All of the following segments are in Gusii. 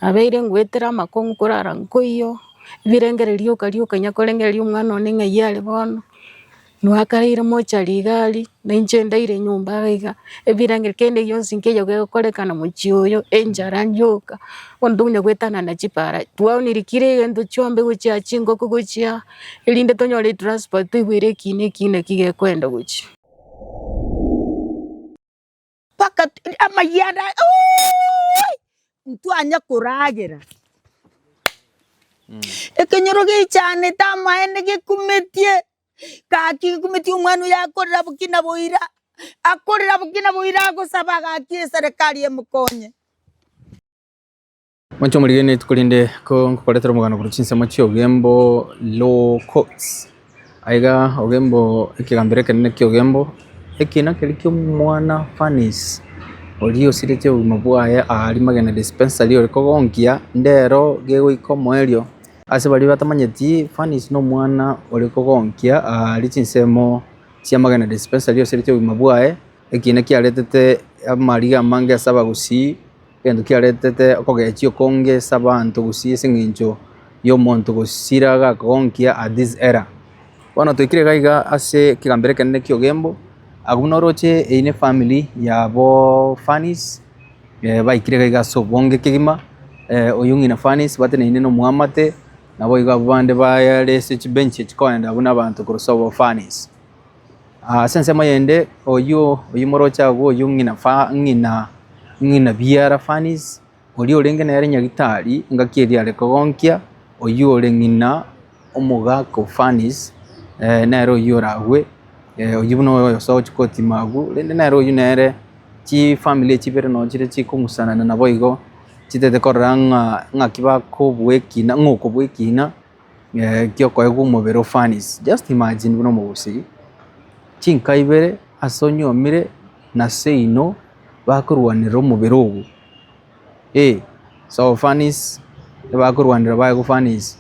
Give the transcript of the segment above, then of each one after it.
Abeire ngwetera amakong'u korara nkoiyo, ebirengererio rioka rioka onya korengereria omwana one ng'ai are bono, inwe akareire mochari iga ari, na inche ndaire nyomba iga iga, ebirenge kende gionsi nkeiyo gegokorekana mochie oyo, enchara yoka, bono tokonya goetana na chipara, twaoneiri kera egento chiombe gochia chingoko gochia aa, erinde tonyore etranspoti toigwere eki ne eki naki gekoenda gochia. Mpaka tu- amayia ande aya, oooi! ntwanya koragera ekenyoro gechanete amaene gekumetie gaki gekumetie omwana oyo akorera boki na boira akorera boki na boira agosaba gaki eserekari emokonye. Mwanche omorigania rituko rinde ko ngokoretera omogano korwa chinsemo chi'ogembo Low Coats. Aiga ogembo ekegambero ekenene ki'ogembo eki nakeri ki'omwana Fannis oria osiretie obogima bwaye aa Rimagena Dispensary ore kogonkia ndero gegoika omoerio. Ase baria batamanyeti Fannis nomwana ore kogonkia aa aria chinsemo chia Magena Dispensary osiretie obogima bwaye, eki nakiaretete amariga amange ase abagusii. Egento kiaretete okogechia okonge ase abanto gose ase eng'encho y'omonto gosira agakonkia at this era. Bono toikire iga iga ase ekegambero ekenene ki'ogembo, abwo buna oroche eyi ne family yabo Fannis, eh, baikire iga iga ase obonge kegima, eh, oyo ng'ina Fannis bateneine na omoamate, naboigo abwo bande bare ase chibench echi koenda buna abanto korwa sobo Fannis. Ase ensemo eyende, oyio oyio moroche agwo oyio ng'ina fa ng'ina ng'ina biara Fannis, oria orenge nere nyagitari engaki eria are kogonkia, oyio ore ng'ina omogaka o Fannis, eh, nere oyio oragwe, eh, oyio buna oyo osa ogochia kotima agwo, rende nere oyio nere chifamiri echi chibere nonya chire chikomusanana naboigo, chitaete korora ng'a ng'aki bakobua ekina ng'a okobua ekina. giokoegwa omobere o furnace, just imagine buna omogusii, chinka ibere ase onyuomire na seino bakorwanera omobere obo, so furnace nibakorwanera baegwa furnace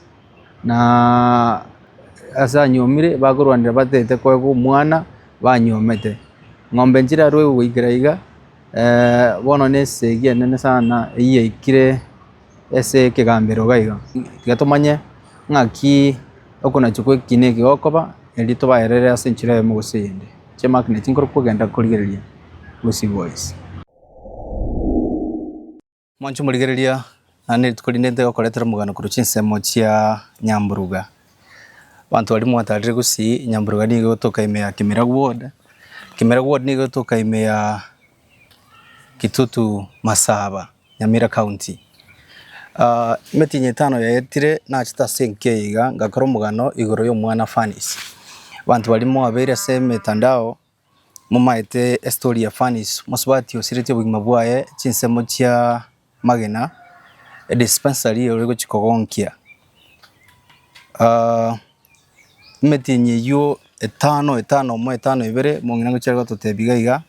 na ase anyuomire bakorwanera batete koegwa omwana banyuomete, ng'ombe nchirarue goikera iga bono ne esegi enene sana eyiaikire. ase ekegambero iga iga, tiga tomanye ng'aki okonachwa kwa ekina eke gokoba, erio tobaerere ase enchera eyemo gose eyende. Chi'emagnet nkorokwo kogenda korigereria gosigwa gose. Moanchwe morigereria, naende rituko rinde ntigokoretera omogano korwa chinsemo chia nyamburuga. Abanto baria mwatarire gosii, nyamburuga nigo egotoka ime ya Kimiragwe ward, Kimiragwe ward nigo egotoka ime ya Kitutu Masaba. Nyamira County. Emetienyi etano yaetire nachete ase enki eye iga, ngakora omogano igoro y'omwana Fannis. Abanto baria moabeire ase emetandao momaete estory ya Fannis, mosubati osiretie obogima bwaye, chinsemo chia magena, edispensary ore gochia kogonkia. Emetienyi eyio etano etano omo etano ebere mong'ina ngochia gototebia iga iga,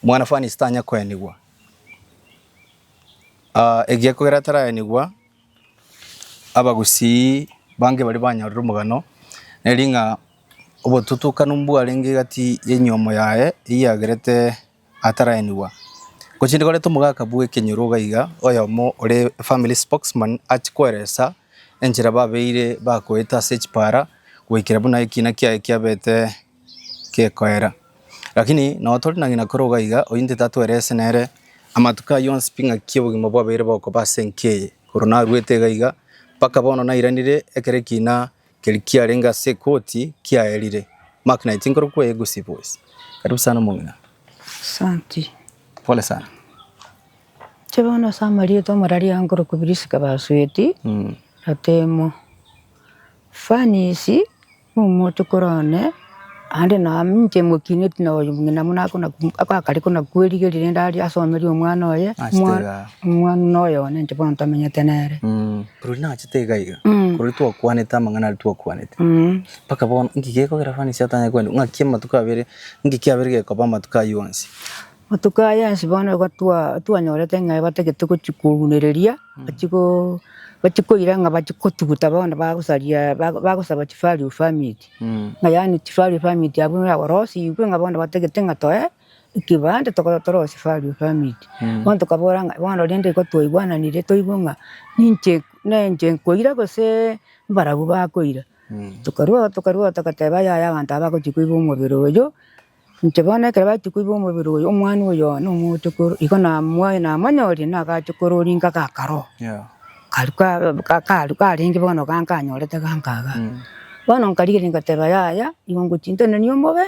Omwana-fariisi tanyare koenigwa. Ekiagera kogera ataraenigwa, abagusii bange baria banyorire omogano, neri ng'a obotutukanu mbwarenge egati y'enyomo yaye eyagerete ataraenigwa. Gochia nde koreta omogaka bw'ekenyoro iga iga, oyomo ore efamily spokesman achie koeresa enchera babeire bakoete ase echipara goikera buna ekina kiaye kiabete. gekoera. Lakini nao tore na ng'ina kore iga iga, oyio ntete atwere ase nere amatuko ayio onsi pi ng'aki obogima bwabeire bokoba ase enki eye. Korwa naruete iga iga, mpaka bono nairanire ekero ekiina keria kiarenge ase ekoti kiaerire. Mark 19 korokwo eye gusi boys. Karibu sana omong'ina. Asanti. Pole sana. Inche bono ase amarieta omorariange nkorokwa Prisca Basueti, Gatemo. Fanies. Omochokoro one aande na amo inche mokineti na oyo ng'ina buna akare konakwerigeria rende aria asomerie omwana oye, omwana noyo one inche bono ntamenyete nere. Rirorio nachete iga iga, korwa twakwanete amang'ana aria twakwanete mpaka bono, inki gekogera fani ase atanyare kogenda? Ng'aki amatuko abere, inki kiabere gekoba amatuko ayio onsi? Matuko aya onsi bono igo twanyorete ng'a ebatagete gochia kounereria, bachie go, bachie koira ng'a bachie gotuguta bono bagosaria, bagosaba chivalue permit, ng'a yaani chivalue permit abwo yarosigwe ng'a bono batagete ng'a toe ekebande tokorwa torosie value permit. Bono tokabora ng'a bono rende igo twaigwananire toigwe ng'a ninche, nenche nkoira gose mbarabwo bakoira. Tokarwao tokarwao togateba yaya abanto aba bagochia koigwa omobere oyio. Inche bono ekero bachia koiba omobere oyo, omwana oyo one omoote korwa, igo namoa- namonyoria nagacha korora inga gakaroo, karia ka- ka- karia karenge bono iga nkanyorete ganka iga. Bono nkarigereria ngateba yaya, igo ngochia ntenenia omobe,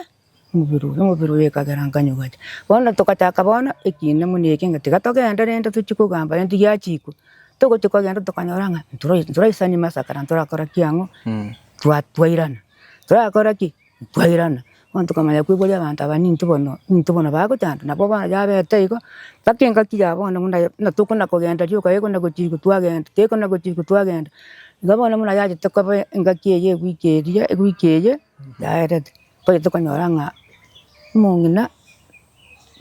omobere oyo, omobere oyo ekagera nkanyigwa inche. Bono togachaka bono ekiina buna eke ng'a tiga togende rende tochie kogamba rente giachikwa, togochia kogenda tokanyora ng'a ntora- ntoraisani masakara, ntorakora ki ang'o? Twa- twairana. Torakora ki? Kwairana, bono tokamanya koigwa abanto aba ninto bono, ninto bono bagochanda, nabo bono yabete igo, mpaka engaki ya bono buna buna tokona kogenda rioka gekona gochirigwa twagenda, gekona gochirigwa twagenda. Igo bono buna yachete koba engaki eye ewiki eria, ewiki eye yaerete, mbaye tokonyora ng'a omong'ina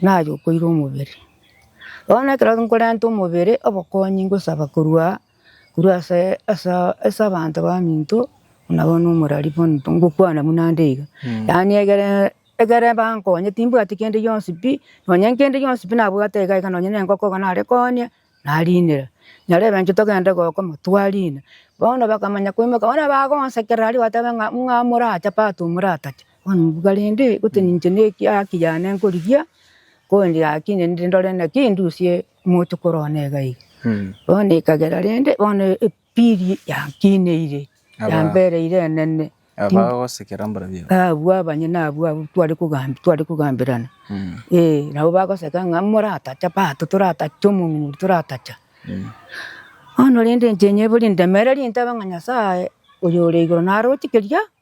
naye okoirwa omobere. Bono ekero nkorenta omobere, obokonyi ngosaba korwa. Korwa ase ase abanto baminto nabo nomorari bono ngokwana buna nde iga. Yaani egere egere bankonye timbwati kende gionsi pi, nonya nkende gionsi pi nabwate iga iga nonya na engoko iga nare konya narinera. Nyare ebenche togende gokama twarina. Bono bakamanya koimoka bono bagonsekera aria bateba ng'a ng'a moracha pato moratacha. Bono mbuga rende gose ninche na eki haki yane nkorigia, ko ndi haki nende ndore naki ndusie Omonto korwana egaiga, bono ekagera, rende bono epiri yankineire, yambereire enene. Abwo abanyene abwo abwo tware kogambia, tware kogamberana, eh, nabo bagoseka ng'a moratacha bato, toratache omong'ina, toratacha. Bono rende inche nyebori ndemereri ntabe ng'a Nyasaye oyore igoro naroche keria.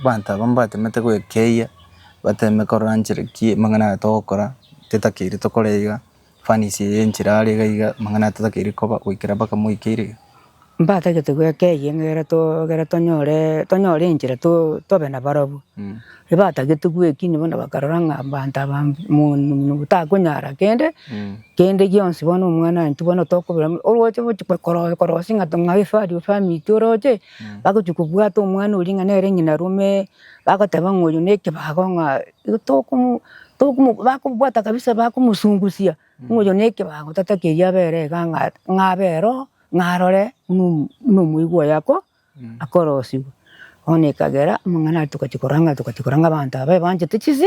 Abanto aba mbatemete goekeiyia, bateme korora nchera ki amang'ana aya togokora, tetakeiri tokore iga, fanish eye enchera are iga iga, amang'ana aya tetakeiri koba goikera mpaka moikeire iga. Mbatagete goekeiyia ng'a ekero to ekero tonyore tonyore enchera to tobe na barobwo. Ebatagete goekinia bono bakarora ng'a abanto aba mbu monwe monwe botakonyara kende kende gionsi bono omwana intwe bono tokobera oroche gochi kwe koro korosia ng'a tong'a efari efamiri oroche. Bagochia kobwata omwana oria ng'a nere ng'ina rome, bagoteba ng'a oyo nekebago ng'a igo tokomo tokomo bakobwata kabisa bakomosungusia ng'a oyo nekebago tata keria abere iga ng'a ng'a abe ero ng'a arore buna omo buna omoigwa oye ako akorosigwa. Bono ekagera amang'ana aria togachia korora ng'a togachia korora ng'a abanto aba ebanchete chise.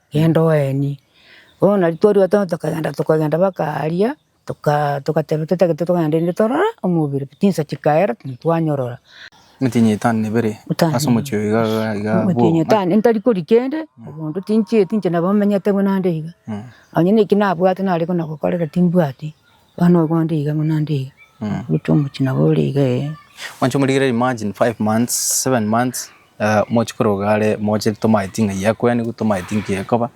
Genda oenie. Bono nari twarua tono tokagenda tokagenda baka aria, tokaa togateba totagete tokagenda rende torore omobere, chinsa chikaera tintwanyorora. Emetienyi etano na ebere ase omochie oyo iga iga iga abwo. Emetienyi etano ntari koria kende, obondo tinchieti inche nabo menyete buna nde iga. Onye naki nabwate nare buna gokorera timbwati, Bana obo onde iga buna onde iga, goita omochie nabo ore iga ee. Mwanche omorigererie imagine five months, seven months eh, mochi koroga are moche tomaeti ng'ai akweanigwe tomaeti nki ekoba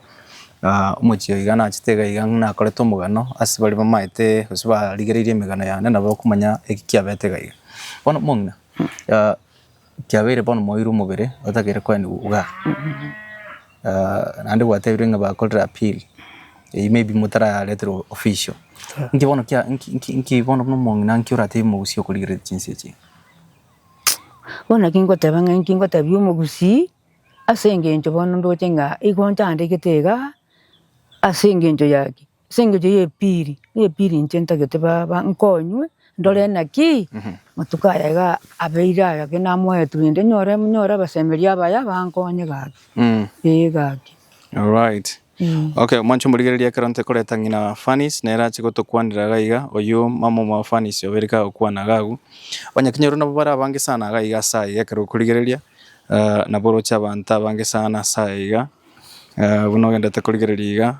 ah, omochie oiga nachete iga iga ng'a nakorete omogano ase baria bamaete gose barigereirie emegano yane nabo okomanya eki kiabete iga iga. Bono omong'ina ah. Kiabeire bono moirwe omobere otagere koenigwa igaa, naende gwatebirwe ng'a bakorire appeal, eyio maybe motarareterwa official. Inki bono kia inki inki inki bono buna omong'ina nki oratebie omogusii okorigereria chinsa echi iga? Bono naki ngoteba ng'a inki ngotebia omogusii, asengeencho bono ndoche ng'a igo nchandegete igaa, asengeencho ya ki. Ase engencho y'ebiiri nebiiri inche ntagete baba nkonywe ndore naki matuko aya iga abeire aya gaki namoete rende nyore nyore abasemeria abaya bankonye gaki. Ee gaki. Alright. Okay, mwancho morigereria ekero ntekoreta ng'ina Fanny's nere ache gotokwanera iga iga, oyio mama omo wa Fanny's obe rika agokwana iga agwo. Onye kinya oro nabo bare abange sana iga iga ase aya iga ekero okorigereria eh, nabo oroche abanto abange sana ase aya iga eh, buna ogendete korigereria iga.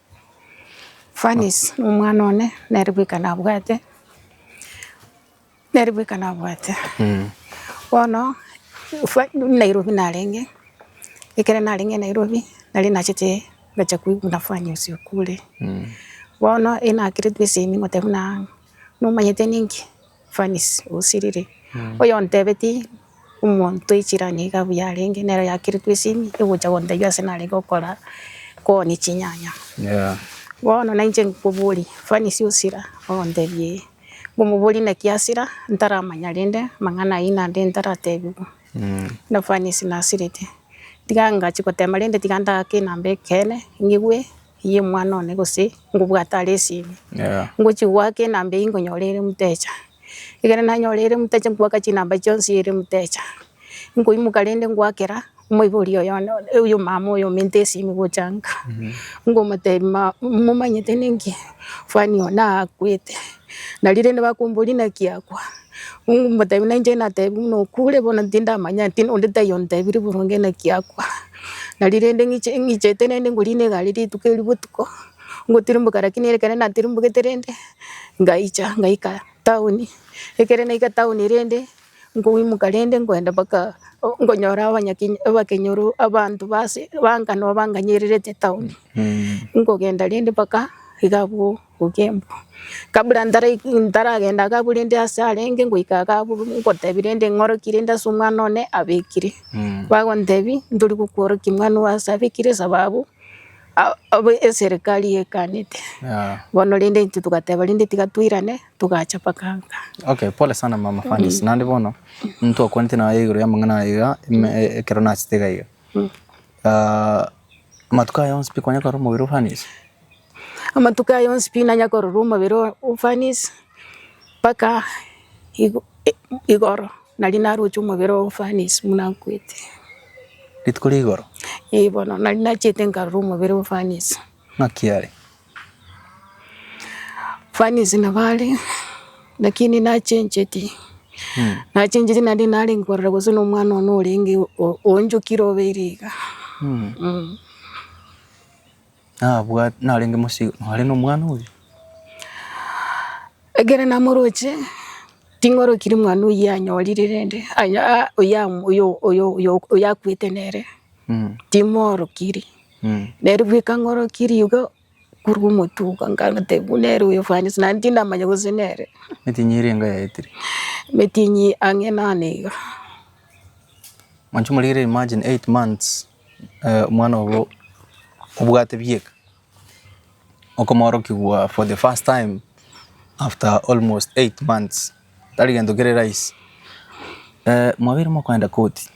Fanice nomwana one nere bweka nabwate, nere bweka nabwate. Bono Fa- Nairobi narenge, ekero narenge Nairobi nari nachete gocha koiguna Fanice okure. Bono enakerete esemi ngoteba buna nomanyete ninki. Fanisi, osiriri, oyontebetie omonto echirani iga buya arenge, nero yakiritwe esimi egocha gontebia ase narenge gokora kooni chinyanya. Bono nainche nkoboria, Fanisi osira, ogontebia ee. Nkomoboria naki asira, ntaramanya rende amang'ana ayio naende ntaratebigwa. Buna Fanisi nasirete, tiga ngachi gotema rende tiga ndagake enamba ekeene, ng'igwe. Eyio omwana one gose ngobwate are esimi, ngochia goaka enamba eyio nkonyora ere emtecha. Ekero nanyora ere emtecha nkoaka chinamba chionsi ere emtecha. Nkoimoka rende nkoakera omoibori oyo one oyo omama oyo ominto esimi gocha nka. Nkomotebia mama momanyete ninki? Fani oo nakwete. Nario rende bakomboria naki akwa? Nkomotebia nainche natebia buna okure bono tindamanya tindi onde taiyo ontebirie boronge naki akwa. Nari rende ng'iche ng'ichete rende ngorina egari rituko erio botuko, ngotirimboka rakini ere ekero natirimbogetwe rende, ngaicha ngaika town, ekero naika town rende, nkoimoka rende nkoenda mpaka o- nkonyora abanya kenya abakenyoro abanto base banka noba nganyererete town, nkogenda rende mpaka iga abwo. Ogembe. Kabura ntaragenda Agabu rende aase arenge ngoika Agabu ngotebi rende ng'oroki rende ase omwana one abekire. Bagontebi ntori gokworokia mwana owe aase abekire sababu eserekari ekanete. Bono rende intwe togateba rende tiga toirane togacha mpaka nka. Okay pole sana mama Fanisi naende bono ntokwanete naye igoro ya amang'ana aya iga ekero nachete iga iga. Amatuko aya onsi pi kwanyakora omobere o Fanisi? Amatuko aya onsi pi nanya kororwa omobere oo ofanisi, mpaka igo i- igoro nari naroche omobere oo ofanisi buna nkwete. Rituko ria igoro? Eeh bono nari nachete nkarora omobere oo ofanisi. Ng'aki are? Ofanisi nabo are, lakini nachencheti, nachencheti naende narenge korora gose na omwana one orenge o- onchokire obeire iga. Nabwat narenge mosio nore nomwana oyio. Ekero namoroche, ting'orokiri mwana oyio anyorire rende aya aa oya oyo oyo oyo oyakwete nere, timoorokiri. Nere bweka ng'orokiri igo korwa omotuko nkamotebia buna ere oyo fani ase naende tindamanya gose nere. Emetinyi eria enga yaetire? Emetinyi ang'e nane iga. Mwancho morigereire imagine eight months. Eh, omwana obo obwate bieka okomorokigwa for the first time after almost eight months tari gento kere rahisi eh, mwabeire mokoenda koti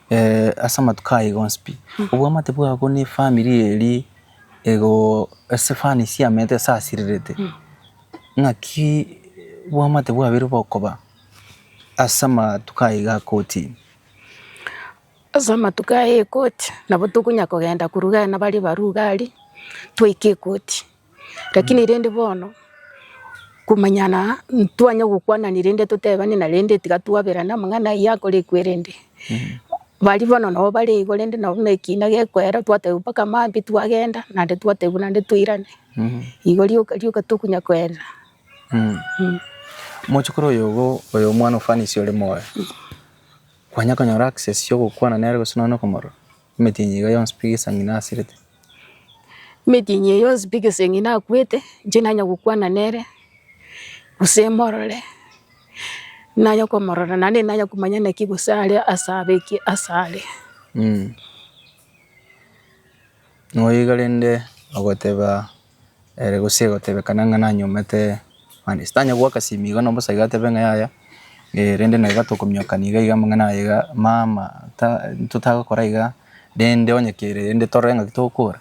eh, ase amatuko aya iga onsi pi obwamate bwabo ne efamiri eri igo ase fani siamete esasirirete ng'aki obwamate bwabeire bokoba ase amatuko aya iga akoti. Ase amatuko aya egoti, nabo tokonya kogenda koruga aria nabaria ebaruga aria, twaika egoti. Rakini rende bono, komanyana ntwanya gokwanani rende totebani narende tiga twaberane amang'ana ayio akorekwe rende. Baria bono nabo bare igo rende nabo buna ekina gekoera twatebiwa mpaka maambia twagenda, naende twatebiwa naende toirane. Igo rioka rioka tokonya koerera. Mochokoro oyogo, oyo omwana ofanisi ore moyo. Kwanya konyora access y'ogokwana nere gose nonya okomorora, emetienyi iga yonsi pi gesang'ina asirete. Emetienyi eye yonsi pi gesang'ina akwete, inche nanye gokwana nere, gose morore, nanye komorora naende nanye komanya naki gose are ase abe ki ase are. Noyo iga rende ogoteba Ere gose egotebekana ng'a nanyomete mani ase tanya goaka simi iga na omosae iga atebe ng'a yaya, rende na iga tokomiokani iga iga amang'ana aye iga mama ta totagokora iga rende onye kere rende torore ng'aki togokora.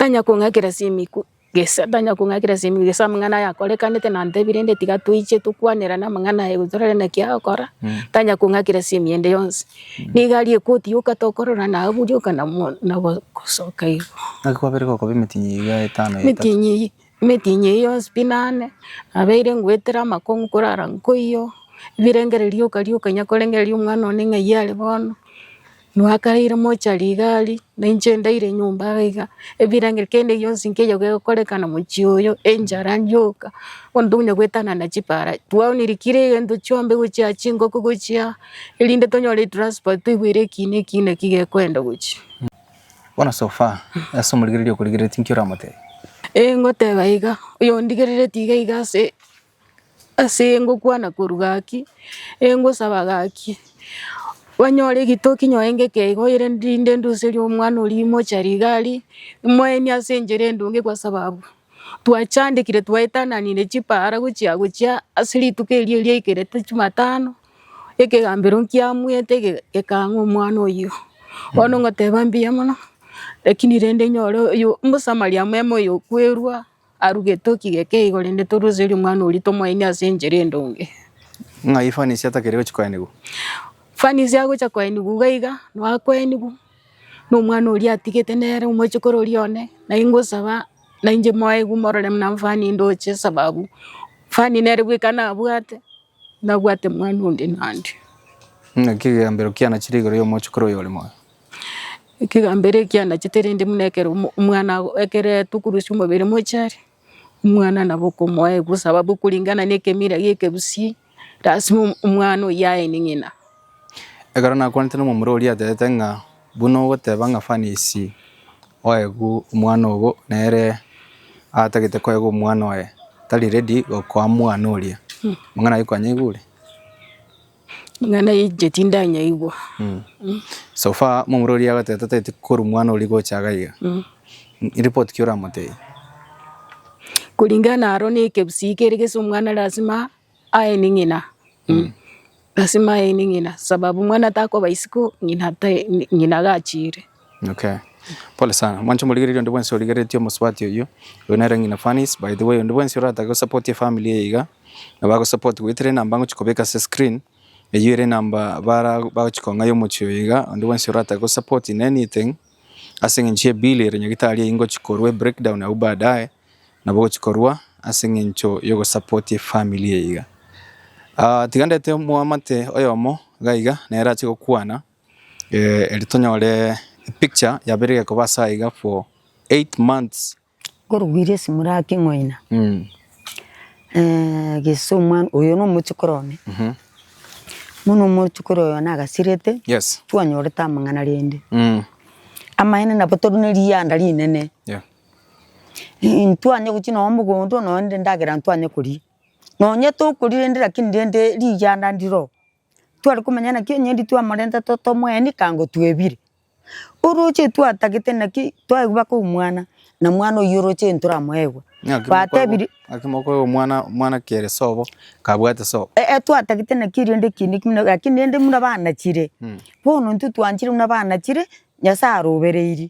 Tanya kong'akera simi ku gesa tanya kong'akera simi gesa amang'ana aya akorekanete na ntebi rende tiga toiche tokwanera na amang'ana aye gose torore naki agokora, tanya kong'akera simi ende yonsi. Nigo aria egotiyoka tokorora nabu rioka na mo na gosoka igo. Naki kwabere gokoba emetinyi eyio ya etano ya etato. Emetinyi eyio emetinyi eyio yonsi pi nane, nabeire ngoetera amakong'u korara nkoiyo, birengere rioka rioka onya korengereria omwana one ng'ai are bono, nwakaire mochari iga aria, na inche ndaire nyomba iga iga, ebirenge kende gionsi nkeiyo gegokorekana mochie oyo, enchara yoka, bono tokonya goetana na chipara, twaoneiri kira egento chionsi gochia chingoko gochia. Erinde tonyore etransport toigwere ekiina ekiina eki gekoenda gochia. Bono so far ase omorigereria okorigereretie inki oramotebi? Eh ngoteba iga, oyondigereretie iga iga ase ase ngokwana korwa gaki, eh ngosaba gaki, banyore egitoki nyoe ngeke iga oye rinde nduserie omwana oria imochari iga aria, imoenie ase enchera endunge kwa sababu twachandekire twaetananire chipara gochia gochia ase rituko erio riaikerete chimatano. Ekegambero nkiamuete ege- ekang'a omwana oyio. Bono ngoteba mbuya mono, lakini rende nyore oyo omosamaria mwema oyo okwerua, arugete oki geke igo rende toruserie omwana oria tomoenie ase enchera endonge. Ng'a efanisi atakeri gochia koenigwa. Fanisi agocha koenigwa iga iga, noo akoenigwa, na omwana oria atigete nere omochikoro oria one, nai ngosaba nainche moegwe morore buna nfani ndoche esababu, nfani nere bweka nabwate. Nabwate mwana onde naende. Naki ekegambero kianachire igoro y'omochukuru oyo ore moyo. Ekegambero eki anachete rende buna ekero omo- omwana ago- ekero etokurusia omobere mochari, omwana nabo okomoa egusa, sababu kuringana na ekemira gi'ekegusii, lasima omwana oyio aene ng'ina. Ekero nakwanete nomomura oria aterete ng'a, buna ogoteba ng'a Fanisi oegwe omwana ogo nere atagete koegwa omwana oye, tari ready gokoa mwana oria. Amang'ana ayio kwanyaigwa ore? Amang'ana ayio inche tindanyaigwa. So far momura oria agoterete tagete korwa mwana oria gocha iga iga. Report ki oramotebi? Kulingana naro na ekegusii kere gese omwana lasima. Aye ni ng'ina, mm, lasima aye ni ng'ina, sababu mwana takoba isiko ng'ina tai ng'ina gachiire. Okay. Pole sana. Mwancho morigereria onde bwensi origereretie omosubati oyio. Oyo nere ng'ina Fanis. By the way, onde bwensi oratake gosupport efamily eye iga, nabo agosupport goetera enamba ngochi kobeka ase screen, eyio ere enamba bara bagochi kong'aia omochie oyo iga, onde bwensi oratake gosupport in anything, ase eng'encho ye bill ere nyagitari eyio ngochi korwa ebreakdown abwo baadaye, nabo ogochia korwa ase eng'encho ya ogosapotia efamiri eye iga. Tiga ndete omwamate oyomo iga iga nere ache gokwana eri tonyore epicture yabeire egekoba ase aiga for eight months. Nkorugirie esimo ria king'oina, gese omwana, oyo na omochikoro one, bono omochikoro oyo one agasirete, twanyorete amang'ana rende, amaene nabo tori ne rianda rinene. Intwanye gochia nonya mogondo nonya rende endagera ntwanye koria, nonya tokoria rende lakini rende riganda ndiroo, tware komanya naki onye rituko twamorentete totomoeni kaa ngotwebire, oroche twatagete naki twaigwa baka omwana na mwana oyio oroche ntoramoegwe, batebiri Naki mokoegwa omwana omwana kere sobo kabwate sobo. Eeh twatagete naki rende ekiina ekio buna lakini rende buna bana chire, bono intwe twanchire buna bana chire, Nyasaye arobereirie.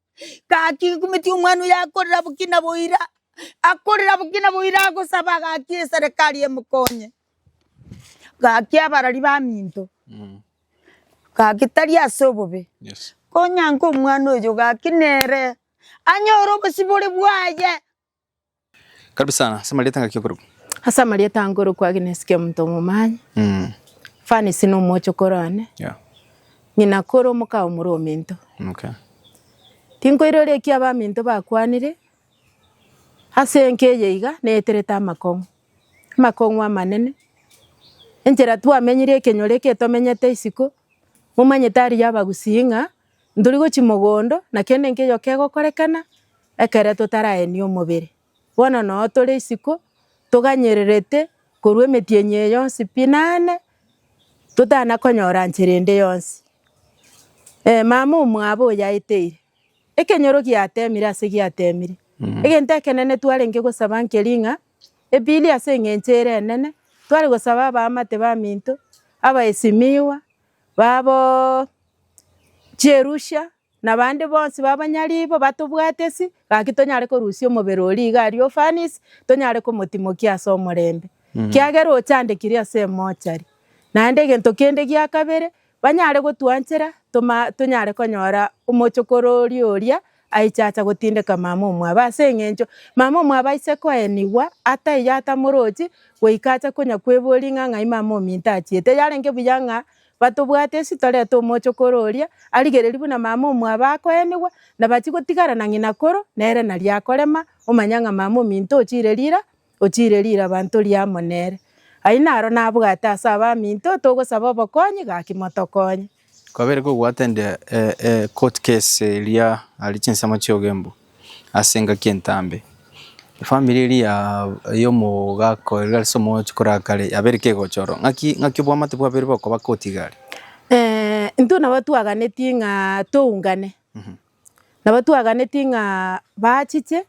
Gaki gokumeti omwana oye akorera bokina boira, akorera bokina boira agosaba gaki eserekari emokonye. Gaki abarari baminto, gaki tari ase obobe, Yes. konyanka omwana oyo gaki nere anyore obosibore bwaye Karibu sana. Ase amarieta ngaki okorokwa? Ase amarieta nkorokwa Agnes Kiamonto Omomani. Mm. Fanice na omochokoro one. Yeah. Ng'ina kore omoka omore ominto. Okay. Tinkoirora eki abaminto bakwanire ase enka eye iga neeterete amakong'u. Amakong'u amanene. Enchera twamenyire ekenyoro eke tomenyete isiko, momanyete aria abagusii ng'a Ntori gochia mogondo, na kende nkeyo kegokorekana ekere totaraenie omobere. Bono noo tore isiko, toganyererete korwa emetienyi eye yonsi pi nane totana konyora nchera ende yonsi. Ee mama omwabo oyaeteire, ekenyoro giatemire ase giatemire. Egento ekenene twarenge gosaba nkeri ng'a, ebiiri ase eng'encho ere enene, tware gosaba abaamate baminto, abaesimiwa, Babo chierusia, na bande bonsi babanyaribo batobwate ase, gaki tonyare korusia omobere oria iga aria ofanisi, tonyare komotimokia ase omorembe. Kiagera ochandekiri ase emochari. Naende egento kende gia kabere, banyare gotwanchera, toma- tonyare konyora omochokoro oria oria Aichacha gotindeka mama omwabo, ase engencho mama omwabo aise koenigwa ataiyo atamorochi, goika ache konya kweboria ng'a ng'ai mama ominto achiete. Yarenge buya ng'a batobwate esi torete omochokoro oria, arigereria buna mama omwabo akoenigwa, nabachi gotigara na ng'ina koro, nere naria akorema, omanya ng'a mama ominto ochire rira, Ochiire rirabanto ria amo nere. Aye naro nabwate ase abaminto togosaba obokonyi gaki motokonye. Kwabere kogwatandia ecourt case eria aria chinsemo chiogembu ase engaki entambe. Efamiri eria ya omogaka oria ase omogocho korakare yabere kegochorwa. Ng'aki ng'aki obwamate bwabere bokoba koti igare? Intwe nabo twaganetie ng'a toungane. Nabo twaganetie ng'a baachiche,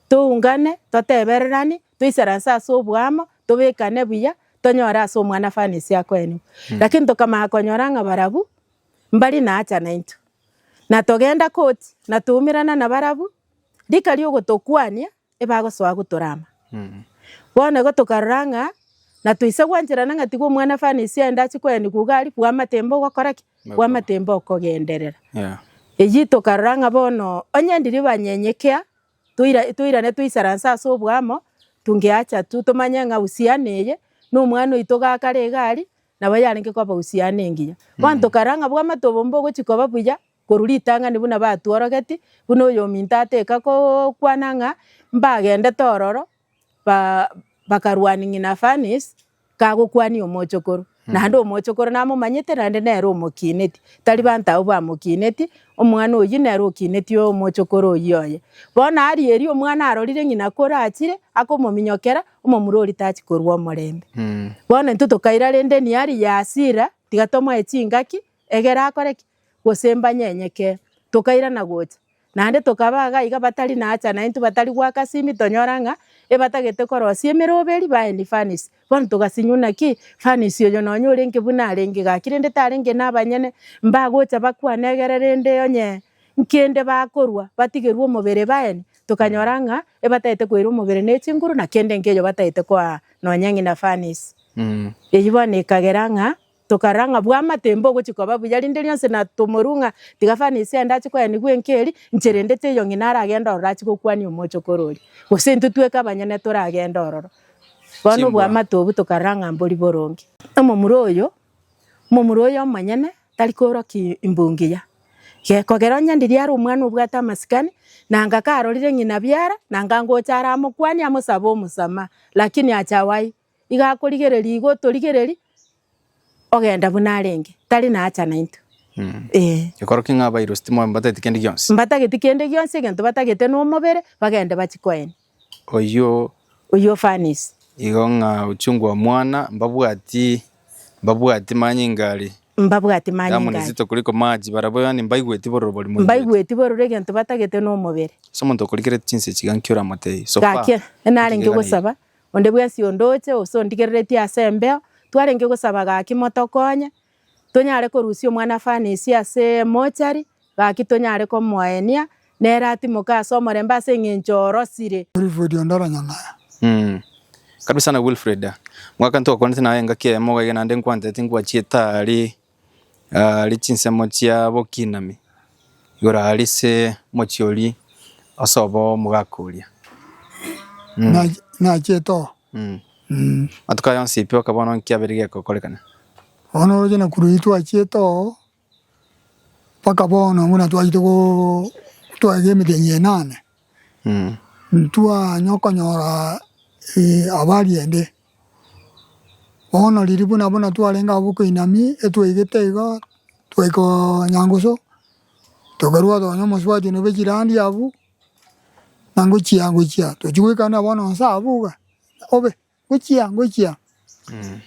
toungane, totebereranie, toisaranse ase oboamo, tobekane buya, tonyore ase Omwana-fani ase akoenigwa. Lakini tokamanya konyora ng'a barabwo mbari na hacha naintwe, na togenda koti, na toumerana nabarabwo, rika ri'ogotokwania. ebagosoa gotorama. Bono igo tokarora ng'a na toise gwancherana ng'a tiga Omwana-fani ise aende ache koyani koigo aria, bwamatemba ogokora ki? Bwamatemba okogenderera. Eyio tokarora ng'a bono onye ndiria banyenyekea, toira- toirane toisaranse ase oboamo, tungeacha tu tomanye ng'a uhusiano eye, na omwana oito gakare iga aria, nabo yarenge koba uhusiano engiya. Bono tokarora ng'a bwamatomba ogochia koba buya, Korwa ritang'ani buna batworogeti, buna oyominto ateka gokwana ng'a mbagendete ororo, ba bakarwania ng'ina Fanis, kagokwania omochokoro. Naende omochokoro namomanyete naende nere omokineti, tari banto abwo bamokineti, omwana oyio nere okineti omochokoro oyio oye. Bono aria erio omwana arorire ng'ina kore achire, akomominyokera, omomura oria tachi korua omorembe. Bono intwe tokaira rende Niari Yasira, tiga tomoe chingaki, egere akore ki? gose mbanyenyeke, tokairana gocha. Naende tokaba iga iga batari nacha naintwe batari goaka simi tonyora ng'a ebatagete korosia emeroberi baeni furnace. Bono togasinyuna ki? Furnace oyo nonye orenge buna arenge gaki rende tarenge nabanyene mbagocha bakwane egere rende onye nkende bakorwa batigerwe omobere baeni. Tokanyora ng'a ebatagete koira omobere ne chinguru na kende nkeyo batagete koa nonye ng'ina furnace. Eyio bono ekagera ng'a. Tokarora ng'a bw'amatemba ogochia koba buya, rinde rionsi na tomorue ng'a tiga fani ise ande ache koyanigwa enka eria inche rende teiyo ng'ina aragende ororo ache gokwania omochokoro oria, gose intwe tweka abanyene toragende ororo. Bono Chimbwa. obwamate obwo tokarora ng'a mbori boronge. Omomura oyo, omomura oyo omonyene tari korokia imbu ngiya, ge- kogera onye ndiria are omwana obwate amasikani, nanga karorire ng'ina biara, nanga ngocha aramokwania amosabe omosamaha, lakini acha wai. iga akorigereria igo otorigererie, ogenda buna arenge, tari naacha naintwe. Ee. Gekoro ki ng'a abairusi timoba- mbatageti kende gionsi? Mbatageti kende gionsi, egento batagete na omobere, bagende bachie koeni. Oyio Oyio ofanisi. igo ng'a ochungu omwana, mbabwati mbabwati manyinga are, Mbabwati damu manyinga are. nizito kuliko maji, barabwo yaani mbaigweti bororo bori moigweti. Mbaigweti bororo egento batagete na omobere. Ase omonto okorigereti chinsa echi iga nki oramotebie? So far, Gaki, narenge otigaiganeirie. gosaba, Onde bwensi ondoche gose ondigereretie ase embeo, twarenge gosaba gaki motokonye, tonyare korusia omwana-fani esie ase emochari, gaki tonyare komoenia, nere atimoke ase omorembe ase eng'encho orosire. Wilfred onde oranyang'aya. Umm kabisa sana Wilfred, mwaka ntogokonete naye engaki eyemo iga iga naende nkwanterete nkwachiete aria Aria chinsemo chia bokinami igoro aria ase omochie oria osobo omogaka oria. Nachi- nachete oo. Mh. Mh. Amatuko aya onsi pi okabona nki abeire gekokorekana? Bono oroche na korwa etwachiete oo, mpaka bono buna twachete goo twaegete emetenya enane. Ntwanye okonyora abariende bono riria buna buna twarenge abwo koinami etwaigete igo twaika nyangusu tokarua nonya omosubati nobe chirandi abwo nangochia ngochia tochia goikania bono nse abwo iga obe. Gochia ngochia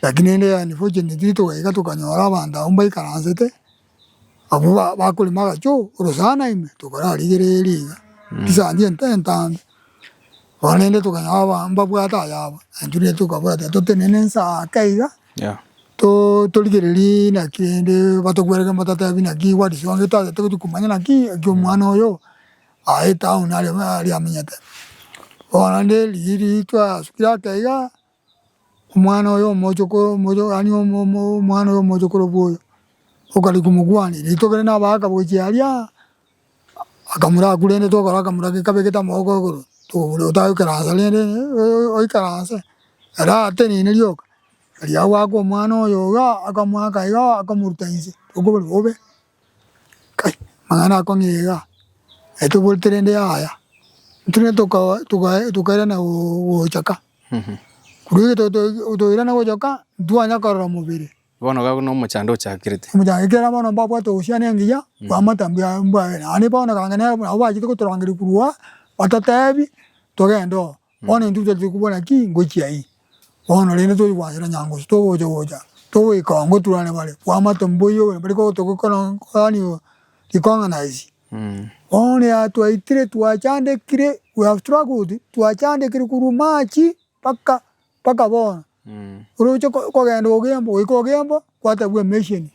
gaki rende unfortunately togaika tokanyora abanto abwo mbaikaransete, abwo bakorema agacho ore saaa naimwe tokararigereria iga chisandi ento entambe. Bono rende tokanyora aba mbabwate ayabo naintwe rende tokabwata totenene ense ake iga torigererie naki rende batokwerogete batatebi naki what is wrong totagete gochia komanya naki eki omwana oyo Aa etown ariamenyete bono nde rigirii riitwe asukire ake igaa omwana oyo omochokoro yaani omwana oyo omochokoro bwa oyo okare komokwania riria tokore na abagaka gochia aria akamura akurente togokora akamura gekabe gete amaboko igoro togokora otae goikaransa rende oikaranse ere atenene rioka riria agoaka omwana oyo igaa akomoaka igaa akomoruta inse okobori bobe. Kai amang'ana oko niga etoborete rende yaya ntwe toka toka tokairana gocha ka korwa ekero to toirana gocha ka ntitwanya korora mobere. Bono iga buna omochando ochakerete. Omochando ekiagera bono mbabwate obochene engiya kwamata mbuya mbwagere naende bono kang'ana nabo bachete gotorangeria korwa aa batotebi togende oo Bono intwe tari kobora ki, Ngochia ii, bono rende tori goasera nyangosu, togocha gocha, togoika oo, ngoturane bare, bwamate mboiyo obo, bari kogotokokorania rikong'ana isi. Bono yatwaitire twachandekire, we have struggled, twachandekire korwa March mpaka mpaka bono. Oroche kogenda ogo embo, goika ogo embo, kwatabua emesheni.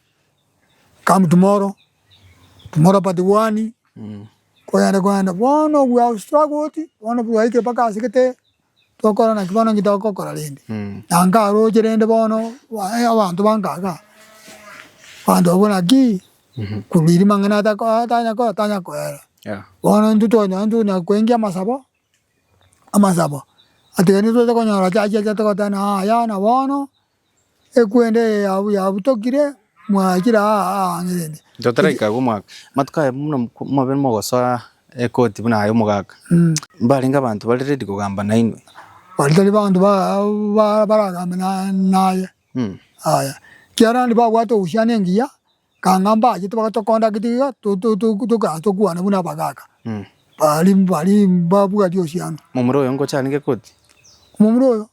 Come tomorrow, tomorrow but one, koyende koyende bono we have struggled bono twaikire mpaka ase gete tokora naki bono nki togokora rende na nkaroche rende bono abanto bankaga abanto abwo naki korwa eri mang'ana atanya kora tanya koyara bono intwe twanyora tonya koenkia amasabo amasabo atiga intwe totonya konyora church eria togoteba ng'a yaya bono. ekwende eye yabutokire mwachire aa aang'erende. Totaraika agwo omwaka. Amatuko aye buna mobe mogosoa ekoti buna aye omogaka. Mbarenge abanto bare ready kogamba nainwe. Baria tari banto baragambe naye. Aya. Kiarandi babwate ogusiana engiya, Kang'a mbaachete bagatokonda gete iga tokaraa tokwana buna abagaaka, bari bari mbabwati osiano. Momura oyo ngochani gekoti. Omomura oyo?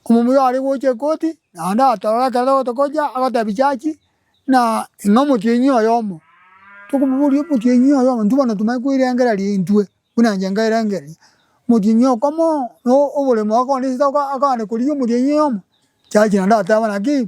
Omomura oyo are gocha ekoti, naende atorora ekero togote gocha, agotebia chachi, na ing'o omotienyi oyomo? Tokomoboria omotienyi oyomo, intwe bono tomae koirengereria intwe, buna inche nkairengereria. Omotienyi okomo, no oboremo akoorisirie akogenda korigia omotienyi oyomo? Chachi naende ateba naki.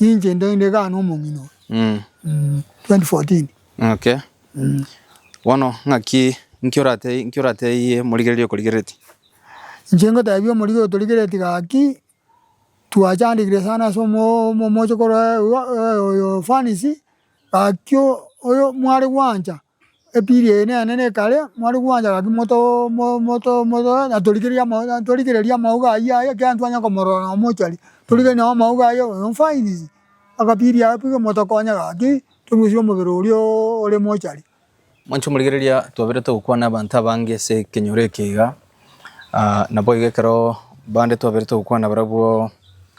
Ninche ndende iga na omong'ina oyo. Mm. Mm, 2014. Okay. Mm. Bono ng'aki nki orate nki orateiye morigereria okorigereti? Inche ngoteebia omorigi otorigereti gaki twachandegire sana ase omo omochokoro oyo fanisi gaki oyo mware gwancha. Epili eye nene nekare mware gwancha gaki motoe natorigereria amauga ayio aye ekiagera ntitwanyara komorora na omochari torigereria nao amauga aye oyo nfainisie agapili ako piga motokonye gaki torusie omobere oria ore mochari. Mwanche omorigereria twabire togokwana abanto abange ase ekenyoro eke iga, naboigo ekero bande twabire togokwana barabwo,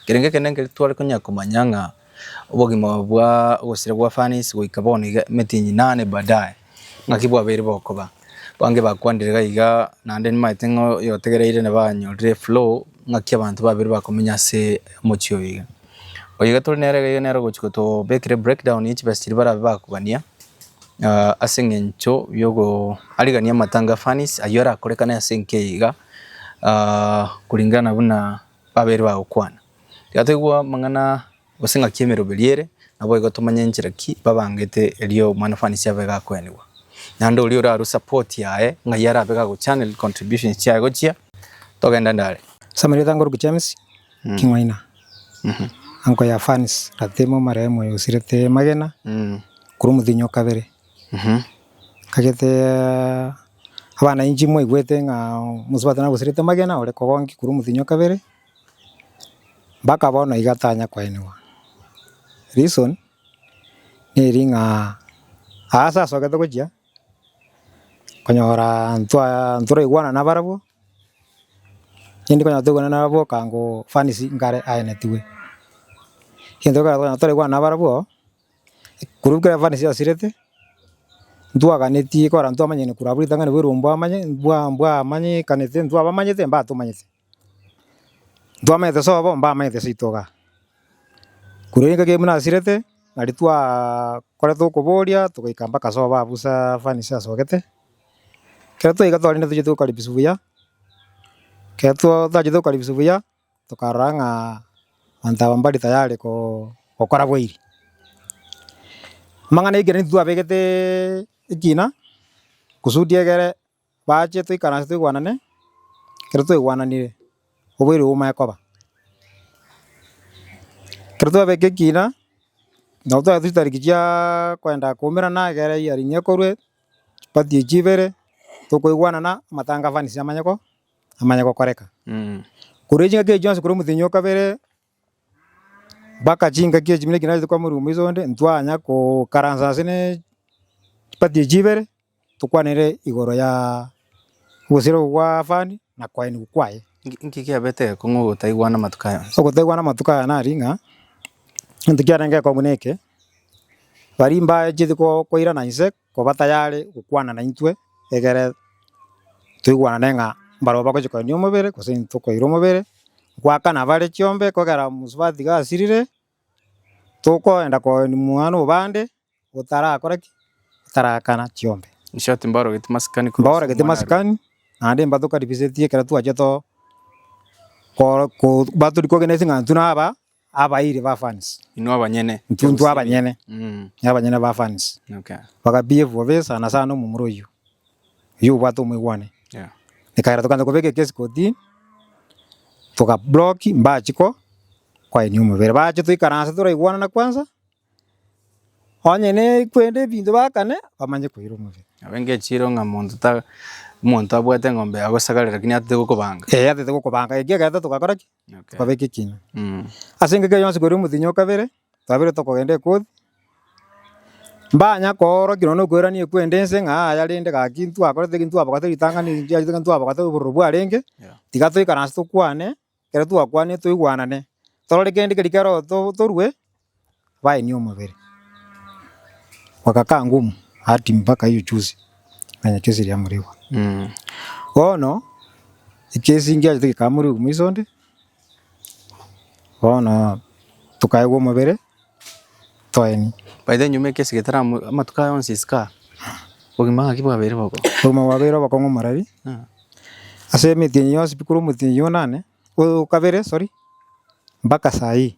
ekerengo ekenene ekero tware konya komanya ng'a Obogima bwa ogosira gwa Fanisi goika bono iga emetienyi inane baadaye, ng'aki bwabeire bokoba? Bange bakwanire gaiga, naende nimaete ng'a oyotegereire nabo anyorire eflow ng'aki abanto babere bakomenya ase omochie oyo iga. Oyo iga tore nere iga iga nere ogochi gotobekera ebreakdown ya chibesa chiria barabe bakogania, ase eng'encho yogo arigania amatanga a Fanisi, ayio arakorekane ase enki eye iga, kuringana buna babeire bagokwana. Tiga toigwe amang'ana gose ng'aki y'emeroberi ere, naboigo tomanye enchera ki babangete erio omwana fanisi abe gakwenigwa. Naende oria orarue support yaye ng'ai arabe gagochannel contributions chiaye gochia, togenda nde are. Ase amarieta a Ngoruki James, King'waina, Anko ya Fans, Ratemo omarehemu oyo osirete Magena, korwa omothinyi o kabere. Ngagete abana inche moigwete ng'a mosubati nabosirete Magena ore kogonki korwa omothinyi o kabere. Mpaka bono iga tanya koenigwa. Reason neri ng'a aase asogete gochia konyora ntwa ntoraigwana nabarabwo, rende konyora toigwana nabarabwo okango fanizi nkare aenetigwe. Egento ekero tokonyora toraigwana nabarabwo, korwa ekero fanizi yasirete, ntwaganeti kora ntwamanyeti korwa abwo ritang'ani bwa erumbo amanye mbwa mbwamanyete ntwabamanyete mbatomanyete. Ntwamanyete sobo mbamanyete seito igaa. Korwa ere engaki buna asirete, nari twaaaa koreta okoboria togaika mpaka sobo abwo busaaa fanicha asogete, ekero twaika twarende tochia tokaribiswa buya, ekero twa twachire tokaribiswa buya, tokarora ng'aa abanto aba mbare tayari koo gokora bwairi. Amang'ana ekero ntitwabegeteeee ekina, kusudi egere Baache toikaranse toigwanane, ekero twaigwananire oboire obo omanye koba. Ekero twabeka ekina, nabo twagete chitariki chiaaa kwenda koumerana egere ya ring'o ekorwe, chibati echi ibere, tokoigwanana amatangafanisi amanye ko amanye gokoreka. Korwa chingaki echi chionsi korwa omotenyi o kabere. Mpaka chingaki echi buna ekio narete kwamorwa omoisa onde, ntwanya kokaransa ase ne chipati echi chibere, tokwanere igoro ya obosero obo bwa fund na koenigwa kwaye. Inki kiabete ekong'u ogotaigwana amatuko aya onsi? Ogotaigwana amatuko aya nari ng'a, egento kiarenge ekong'u neke, baria mbacheti ko- koirana inse koba tayare gokwana naintwe, egere toigwanane ng'a mbarabwo bagochia koendia omobere gose intwe tokoira omobere, goakana bare chiombe kogera mosubati gasirire, tokoenda koenia mwane obande otarakora ki? otaraakana chiombe. In short mbaorogetie masikani korwa ase Mbaorogetie omwana arenge. masikani, naende mbatokaribisetie ekero twachia to- ko- ko- mbatorikogena ase eng'ancho naba Abairi ba fans. Inwe abanyene. Intwe abanyene. Abanyene ba fans. Bagabi ebuo besa na sana omomura oyio. Oyio obwate omoigwane. Ekaira tokanza kobeka ekesi kotini. Toka block mbachi ko kwaini omobere. Bache toikaranse toraigwanana kwanza. Onye ne kwende ebinto bakane bamanye koira omobere. Abe ngechire ng'a monto ta, monto abwate eng'ombe yagosagarera lakini atete gokobanga. Atete gokobanga. Ekiagera togakora ki? Tokabe ekekina. Ase engaki eye yonsi koria omotienyi o kabere, twabire tokogenda ekoti, mbanya koorokia nonya na okoiraneria kwende ense ng'a aya rende gaki ntwakorete eki, ntwabogete ritang'ani eri, ntiareti eki, ntwabogete obororo bwarenge, tiga toikaranse tokwane, ekero twakwanire toigwanane, torore kende keria kero to- torue. Baini omobere bakakaa ngumu ati mpaka hiyo chuzi nanya chuzi ria murigwa. Bono ekesi ngiachete gekaa morigo moiso onde, bono tokaegwa omobere toeni. By the way nyuma ekesi getara amatuko aya onsi is kaa obogima ng'aki bwabeire bobe? Obogima bwabeire obokong'u morari ase emete eye yonsi pi korwa omotienyi yonane, o kabere sorry, mpaka saa hii.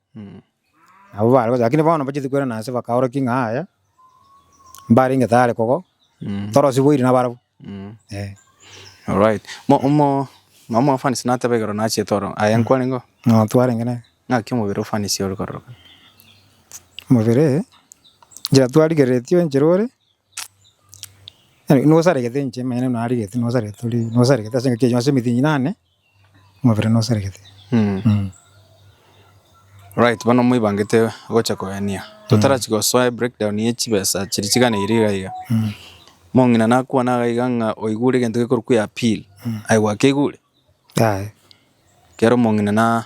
Nabo bare gocha, rakini bono mbacheti kwerana ase bakaorokia ng'a yaya, mbarenge tayari kogo, torosiboiri nabarabwo, eh. Alright, mo omo nomo ofanisi nateba igoro nachiete oro aye nkwarenge oo? Ng'a twarenge nere. Ng'aki omobere ofanisi ore kororokana? Omobere, enchera twarigereretie enchera ore. Nosaregete inche omanyene narigetie nosaregete tori nosaregete ase engaki eyio ase emitinyi eye yane omobere nosaregete. Alright bono moibangete gocha kogania totarachi gosoa ebreak down ye chibesa chiria chiganeire iga iga, omong'ina nakwana iga iga ng'a oigure egento gekorokwa eappeal, aye gwakeigure? Aye. Ekiagera omong'ina na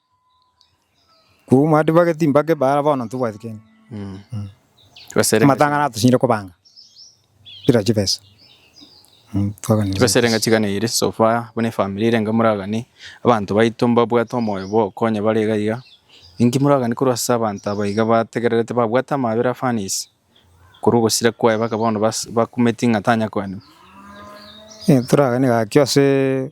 Kobuo omwati bwa egetimba kebe ara bono ntobwati kende. Amatang'ana atochinyire kobanga buna chibesa. Twaganire Chibesa ere ng'aki gani ere so far buna efamiri ere enga moragani abanto baito mbabwate omoyo bwa okonya bare iga iga. Inki moragani korwa ase abanto aba iga bategererete babwate amabera afanisi korwa ogosira kwaye mpaka bono bas- bakumeti ng'a tanya koenwa? Toragani gaki ase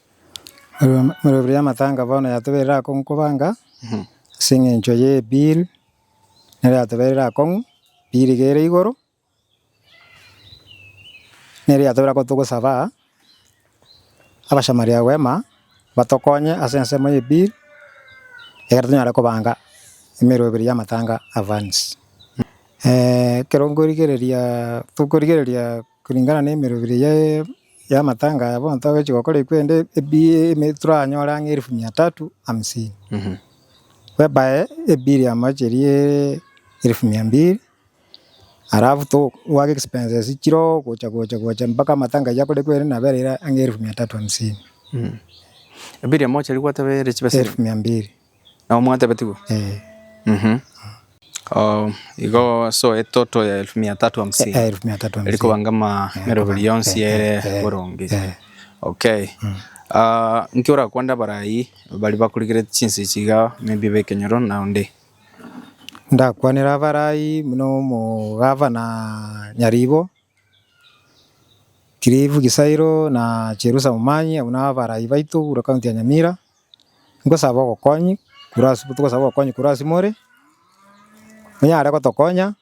Emerero y'amatanga bono yatobeire akong'u kobanga, ase eng'encho ye bill nere yatobeire akong'u, bill iga ere igoro, nere yatobeire akong'u togosaba abachamaria ba rwema batokonye ase ensemo ye bill, ekero tonyare kobanga emerero ebere y'amatanga advance. Ekero nkorigereria tokorigereria kuringana na emerero ebere yaye. y'amatanga aya bonsi togochi gokora ekwende ebiaaa toranyore ang'e elfu mia tatu hamsini. Bwebae ebiri amo chiriiiee elfu mia mbiri, alafu to obwate expenses chiroo gocha gocha gocha mpaka amatanga aywo akore ekwende nabo ere ang'e elfu mia tatu hamsini. Ebiri amo chiri gwateba ere chibesa elfu mia mbiri. Nabo mwatebetigwe? Eh, Mhm. Oh, igo so etoto ya elfu mia tatu hamsini eh, elfu mia tatu hamsini. erikobangama Eh, meroberi koba- yonsi eh, ere eh, eh, boronge eh. okay Ah, nki orakwanda abarai bari bakurigerete chinse chiga maybe bekenyoro na onde Ndakwanera abarai buna omogavana Nyaribo, Cliff Gisairo na Cherusa Momanyi, abwo nabarai baito buna county ya Nyamira, Nkosaba ogokonyi korwa ase tokosaba ogokonyi korwa ase more, onyare gotokonya,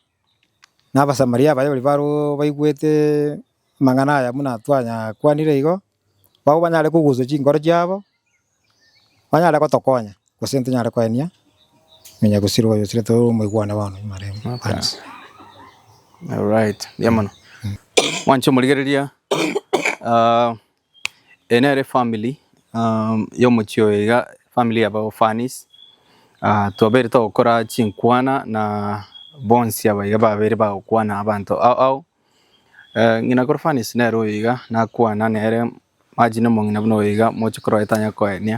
na Abasamaria abaye bari baro baigwete amang'ana aya buna twanya kwanire igo, nabo banyare kogusa chinkoro chiabo, banyare gotokonya, gose ntonyare koenia nonya gosira oyo osire toro omoigwane bono maremo thanks. Alright, mbuya mono. Mwanche omorigereria Eye nere family yomochie oyo iga family ya baorphans twabeire togokora chinkwana na bonsi aba iga babeire bagokwana abanto ao ao. Ng'ina k'orphans nere oyo iga nakwana nere imagine omong'ina buna oyo iga moche korora etanya koenia.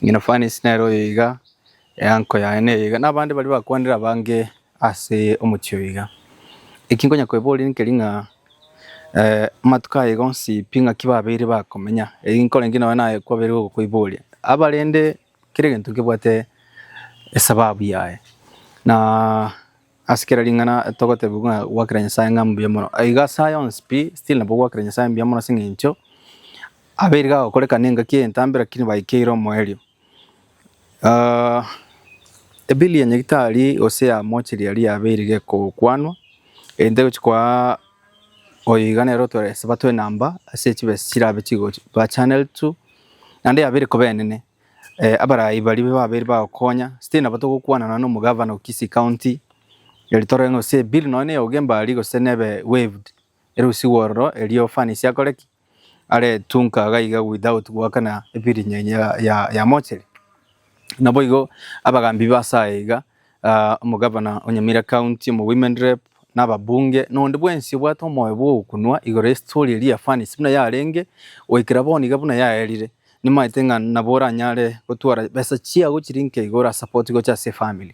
Ng'ina orphans nere oyo iga Eango yaye neye iga, na abande baria bakwanire abange ase omochie oyo iga. Eki nkonya koeboria nkeri ng'a amatuko aye gonsi pi ng'aki babeire bakomenya. Eri nkorenge nonye naye kwabeire gokoiboria. Abarende kera egento nkebwate esababu yaye. Na ase kera ring'ana togotebiwa ng'a gwakera Nyasaye ng'a mbuya mono. Igo ase aya onsi pi, still nabo gwakera Nyasaye mbuya mono ase eng'encho abeire gagokorekana engaki entambe lakini baikeire omoerio. Ebili ya nyagetari gose ya mochiri aria yabeire gekokwanwa, egento egochi koa oyo iga nere otware esabato enamba ase chibesa chirabe chigochi ba channeled to, naende yabeire koba enene. Abarai baria babeire bagokonya, still nabo togokwana nonya na omogavana o Kisii County, eri torore ng'a gose ebili nonya na eya Ugemba aria gose nebe waived, erusigwe ororo erio fans akore ki? aretunka gaiga without goakana ebirinyo enyia ya- ya- yamochere. Naboigo abagambi b'ase aya iga, ah, omogabana o Nyamira County, omo women rep, na ababunge, na onde bwensi obwate omoyo bw'ogokunwa igoro y'estori eria ya Fanisi buna yarenge goikera bono iga buna yaerire, nimaete ng'a nabo oranyare gotwara besa chiago chiri nkeigoro ase support gocha ase efamily.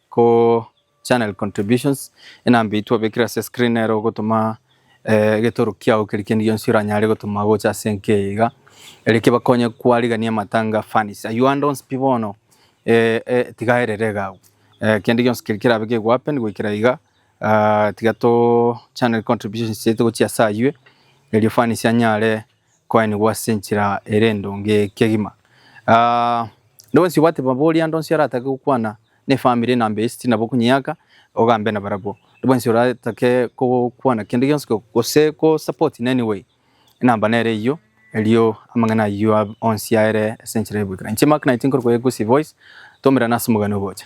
Ko channel contributions, enamba eyio twabekire ase screen nero ogotoma egetoro kiao keri kende gionsi oranyare gotoma gocha ase enka eye iga, ere kebakonye kwarigania amatanga funnies. Ayio ande onsi pi bono tiga erere iga agwo. Kende gionsi keri kerabe kegoa happen goikera iga, tiga to channel contributions chiaito gochia ase ayio erio funnies anyare. Koenigwa ase enchera ere endonge kegima. Ah, Nde bwensi obwate mabori ande onsi aratake gokwana ne family na mbe esiti nabo okonyeaka ogambe na barabwo. Nde bwensi oratake gokwana kende gionsi go- gose ko support in any way enamba nere eyio erio amang'ana ayio ab- onsi aere ase enchera ya goikera. Inche Mark Naiti nkoruga Egusi Voice twaumerana ase omogani ogocha.